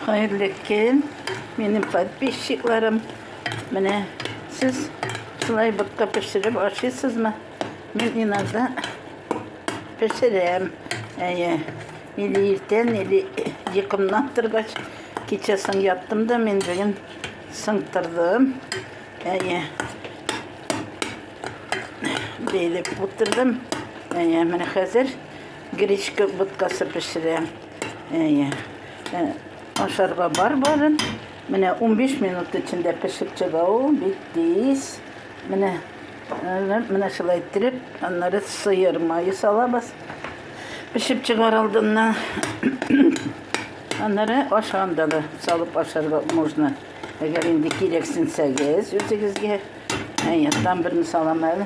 Хәерле көн, минем подписчикларым. Менә сез шулай ботка пешереп ашыйсызмы? Мин иногда пешерәм. Әйе. Или иртән, или йокымнан торгач, кичәсен яттым да мин бүген сыңтырдым. Әйе. Бәйләп утырдым. Әйе, менә хәзер Гречка боткасы пешерәм. Әйе. Э, ашарга бар барын. Менә 15 минут эчендә пешеп чыга ул, бик тиз. Менә менә шулай иттереп, аннары сыер мае салабыз. Пешеп чыгар алдыннан аннары ашанда да салып ашарга можно. Әгәр инде кирәксенсәгез үзегезгә. Әйе, там берне салам әле.